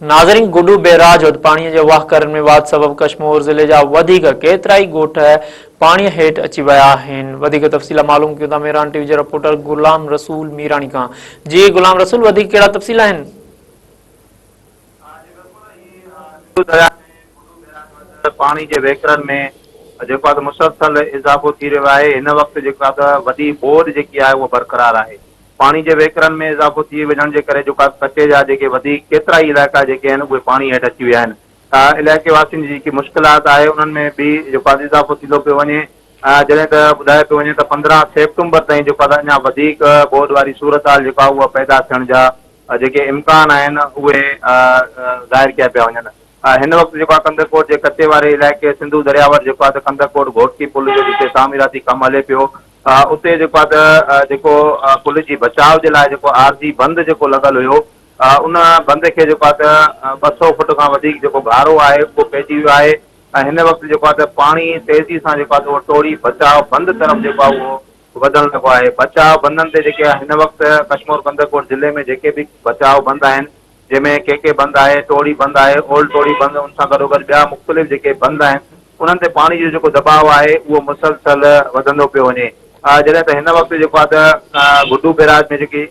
ناظرين گڊو بئراج وٽ پاڻي جي واهڪرن ۾ واڌ سبب ڪشمور ضلعي جا وڌيڪ ڪيترائي ڳوٺ پاڻي هيٺ اچي ويا آهن وڌيڪ تفصيل معلوم ڪيون ٿا ميران ٽي وي جي رپورٽر غلام رسول ميراڻي کان جي غلام رسول وڌيڪ ڪهڙا تفصيل آهن پاڻي جي وهڪرن ۾ جيڪو آهي مسلسل اضافو ٿي رهيو آهي هن وقت جيڪا وڏي ٻوڏ جيڪي آهي اها برقرار آهي پاڻي جي وهڪرن ۾ اضافو ٿي وڃڻ جي ڪري جيڪا ڪچي جا جيڪي وڌيڪ ڪيترا ئي علائقا جيڪي آهن اهي پاڻي هيٺ اچي ويا آهن ته علائقي واسين جي جيڪي مشڪلات آهي انهن ۾ به جيڪو آهي اضافو ٿيندو پيو وڃي جڏهن ته ٻڌايو پيو وڃي ته پندرهن سيپٽمبر تائين جيڪو آهي اڃا وڌيڪ ٻوڏ واري صورتحال جيڪا آهي اها پيدا ٿيڻ جا جيڪي امڪان آهن اهي ظاهر ڪيا پيا وڃن هن وقت جيڪو آهي ڪنڌڪوٽ جي ڪچي واري علائقي سنڌو درياء وٽ جيڪو آهي ته ڪنڌڪوٽ گهوٽڪي پل جو جتي تعميراتي ڪم هلي پيو اتي جيڪو آهي ته جيڪو پل جي بچاء جي لاء جيڪو عارضي بند جيڪو لڳل هيو ان بند کي جيڪو آهي ته ٻه سؤ فٽ کان وڌيڪ جيڪو گهارو آهي اهو پئجي ويو آهي ۽ هن وقت جيڪو آهي ته پاڻي تيزي سان جيڪو آهي اهو ٽوڙي بچاء بند طرف جيڪو آهي اهو وڌڻ لڳو آهي بچاء بندن تي جيڪي هن وقت ڪشمور ڪنڌڪوٽ ضلعي ۾ جيڪي به بچاء بند آهن جنهن ۾ ڪي ڪي بند آهي، ٽوڙي بند آهي، اولڊ ٽوڙي بند ان سان گڏوگڏ ٻيا مختلف جيڪي بند آهن انهن تي پاڻي جو جيڪو دٻاء آهي اهو مسلسل وڌندو پيو وڃي جڏهن ته هن وقت جيڪو آهي ته گڊو بيراج ۾ جيڪي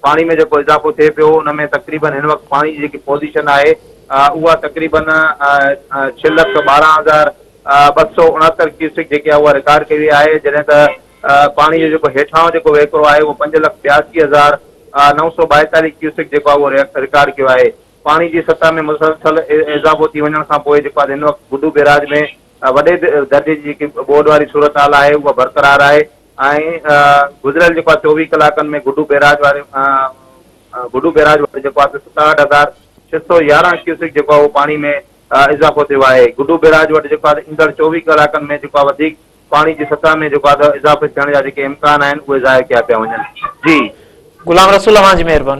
پاڻي ۾ جيڪو اضافو ٿئي پيو ان ۾ تقريبن هن وقت پاڻي جي جيڪي پوزيشن آهي اها تقريبن ڇهه لک ٻارهن هزار ٻه سو اڻهتر ڪيوسڪ جيڪي آهي اها رڪارڊ ڪئي وئي آهي جڏهن ته پاڻي جو جيڪو هيٺاهون جيڪو وهڪرو آهي اهو پنج لک ٻياسي هزار نو سؤ ٻائيتاليهه ڪيوسڪ جيڪو آهي اهو رڪارڊ ڪيو آهي. پاڻي جي سطح ۾ مسلسل اضافو ٿي وڃڻ کان پوء جيڪو آهي هن وقت بڊو بيراج ۾ وڏي درجي جي جيڪي ٻوڏ واري صورتحال آهي اها برقرار آهي ۽ گذريل جيڪو آهي چوويهه ڪلاڪن ۾ گڊو بيراج واري بڊو بيراج وٽ جيڪو آهي ستاهٺ هزار ڇهه سؤ يارهن ڪيوسڪ جيڪو آهي اهو پاڻي ۾ اضافو ٿيو آهي. گڊو بيراج وٽ جيڪو آهي ايندڙ چوويهه ڪلاڪن ۾ جيڪو آهي وڌيڪ پاڻي جي سطح ۾ جيڪو اڌ اضافي ٿيڻ جا جيڪي امڪان آهن اهي ظاهر ڪيا پيا وڃن جي. غلام رسول اوهان جي مهرباني.